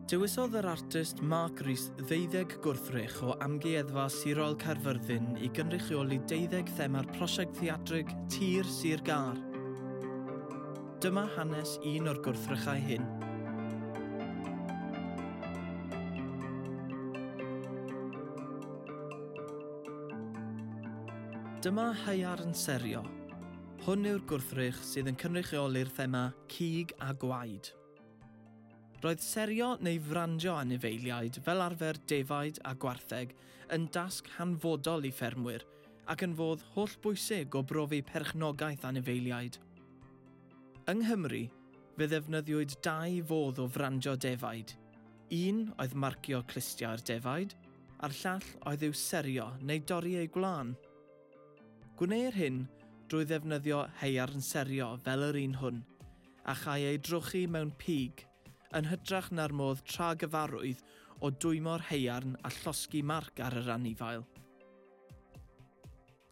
Dewisodd yr artist Mark Rees ddeuddeg gwrthrych o Amgueddfa Sirol Caerfyrddin i gynrychioli deuddeg thema'r prosiect theatrig Tir Sir Gar. Dyma hanes un o'r gwrthrychau hyn. Dyma haearn serio. Hwn yw'r gwrthrych sydd yn cynrychioli'r thema cig a gwaed. Roedd serio neu frandio anifeiliaid, fel arfer defaid a gwartheg, yn dasg hanfodol i ffermwyr ac yn fodd hollbwysig o brofi perchnogaeth anifeiliaid. Yng Nghymru, fe ddefnyddiwyd dau fodd o frandio defaid, Un oedd marcio clustiau'r defaid, a'r llall oedd i'w serio neu dorri eu gwlân. Gwneir hyn drwy ddefnyddio haearn serio fel yr un hwn, a châi ei drochi mewn pig, yn hytrach na'r modd tra gyfarwydd o dwymo'r haearn a llosgi marc ar yr anifail.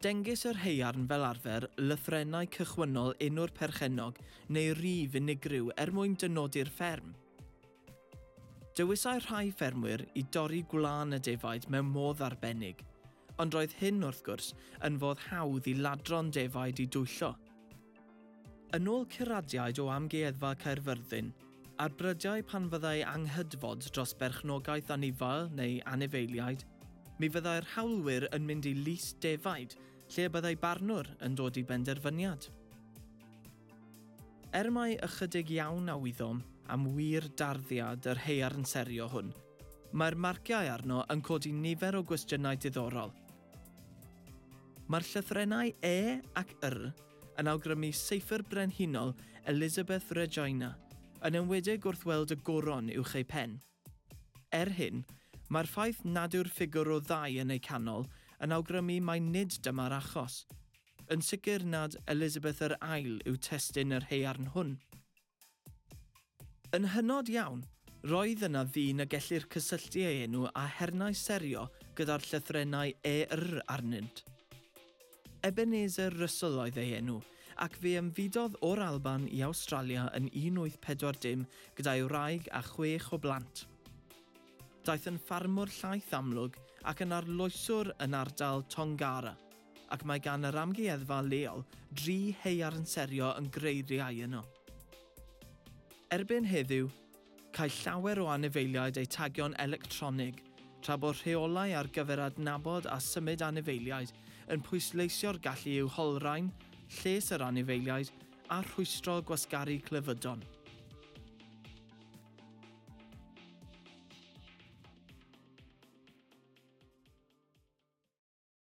Dengys yr haearn fel arfer lythrennau cychwynnol enw'r perchennog neu rif unigryw er mwyn dynodi'r fferm. Dewisai rhai ffermwyr i dorri gwlân y defaid mewn modd arbennig, ond roedd hyn, wrth gwrs, yn fodd hawdd i ladron defaid i dwyllo. Yn ôl curadiaid o Amgueddfa Caerfyrddin, a'r brydiau pan fyddai anghydfod dros berchnogaeth anifail neu anifeiliaid, mi fyddai'r hawlwyr yn mynd i lys defaid lle y byddai barnwr yn dod i benderfyniad. Er mai ychydig iawn a wyddom am wir darddiad yr haearn serio hwn, mae'r marciau arno yn codi nifer o gwestiynau diddorol. Mae'r llythrennau E ac R yn awgrymu seifr brenhinol Elizabeth Regina, yn enwedig wrth weld y goron uwch ei phen. Er hyn, mae'r ffaith nad yw'r ffigwr o ddau yn eu canol yn awgrymu mai nid dyma'r achos. Yn sicr nad Elizabeth yr Ail yw testun yr haearn hwn. Yn hynod iawn, roedd yna ddyn y gellir cysylltu ei enw â hernau serio gyda'r llythrennau ER arnynt. Ebenezer Russell oedd ei enw, ac fe ymfudodd o'r Alban i Awstralia yn 1840 gyda'i wraig a chwech o blant. Daeth yn ffarmwr llaeth amlwg ac yn arloeswr yn ardal Tongara. ac mae gan yr amgueddfa leol dri haearn serio yn greiriau yno. Erbyn heddiw, caill llawer o anifeiliaid eu tagio'n electronig, tra bod rheolau ar gyfer adnabod a symud anifeiliaid yn pwysleisio'r gallu i'w holrhain, lles yr anifeiliaid, a rhwystro gwasgaru clefydon.